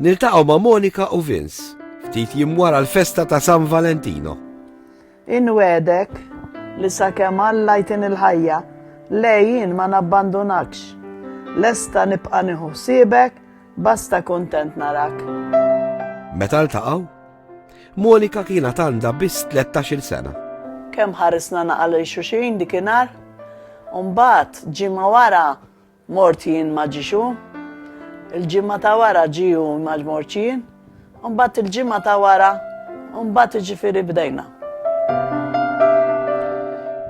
Niltaqgħu ma' Monika u Vince ftit jim wara l-festa ta' San Valentino. Inwedek li sakemm Alla jtin il-ħajja, lejjin ma nabbandunakx. Lesta nibqa' nieħu ħsiebek, basta kuntent narak. Meta ltaqgħu, Monika kiena tanda biss 13-il sena. Kemm ħarisna naqal il xuxin dikinhar, u mbagħad ġimgħa wara Mort jien ma ġiex hu. Il-ġimgħa ta' wara ġie hu ma mortx jien. U mbagħad il-ġimgħa ta' wara u mbagħad iġifieri bdejna.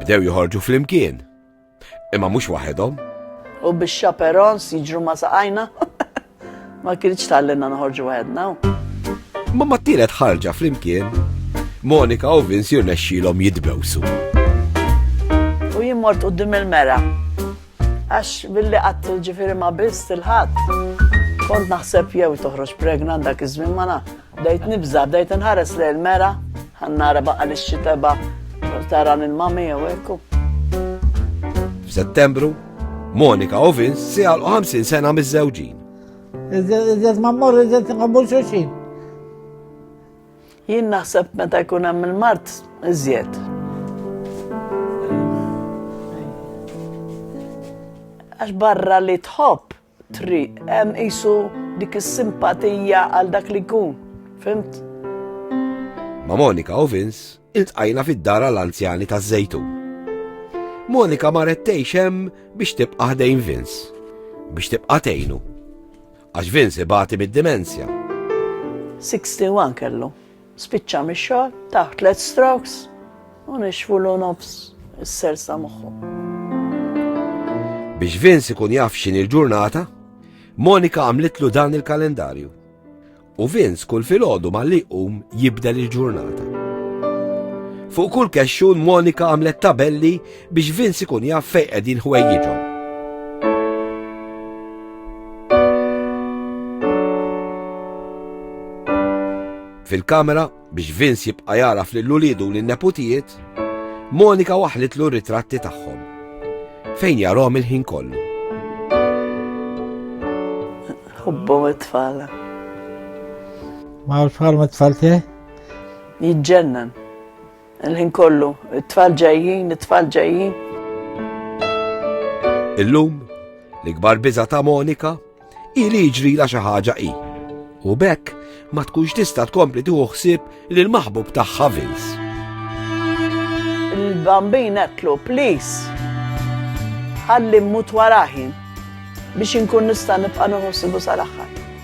Bdew joħorġu flimkien. Imma mhux waħedhom. U bix-chaperons jiġru ma' saqajna. Ma kienx tgħallimna noħorġu waħedna. Ma ma tielet ħarġa flimkien, Monika u Vince jirnexxilhom jitbewsu. U jien mort qudiem il-mera. Għax billi qatt ġifieri ma biss il-ħadd. Kont naħseb jew toħroġ pregnant dak iż-żmien ma Bdejt nibża', bdejt inħares lejn il-mera, ħa nara baqa' li x'xitebha tara lil mami jew hekk u. F'Settembru, Monika u Vince se jgħalqu 50 sena miż-żewġin. Iżjed ma mmorru iżjed nqabbu xulxin. Jien naħseb meta jkun hemm il-mart iżjed. Għax barra li tħobb Triq, hemm qisu dik is-simpatija għal dak li jkun, fimt? Ma' Monika u Vince iltqajna fid-dar għal anzjani ta' Żejtun. Monika marret tgħix hemm biex tibqa' ħdejn Vince, biex tibqa' tgħinu. Għax Vince ibati mid-dimensja. 61 kellu. Spiċċa mix-xogħol, tah tliet strokes u nixfulu nofs is-sersa moħħu. Biex Vince ikun jaf x'in il-ġurnata, Monika għamlitlu dan il-kalendarju. U Vince kull filgħodu ma li qum jibdel il-ġurnata. Fuq kull kexxun Monika għamlet tabelli biex Vince ikun jaf fejn qegħdin ħwejjiġhom. Fil-kamera biex Vince jibqa' jaraf lil ulidu u lin-neputijiet, Monika waħlitlu r-ritratti tagħhom. Fejn jarhom il-ħin kollu. Hubbom it-tfala. Ma' tfal ma' tfal te? Jġennan. Il-ħin kollu, it-tfal ġejjin, it-tfal ġejjin. Illum, l-ikbar biża ta' Monika, i li ġri la xi ħaġa i. U bekk ma tkunx tista' tkompli tieħu ħsieb lil maħbub tagħha Vince. Il-bambin qetlu, please. Ħalli mmut waraħi biex inkun nista' nibqa' nħossibu sal-aħħar.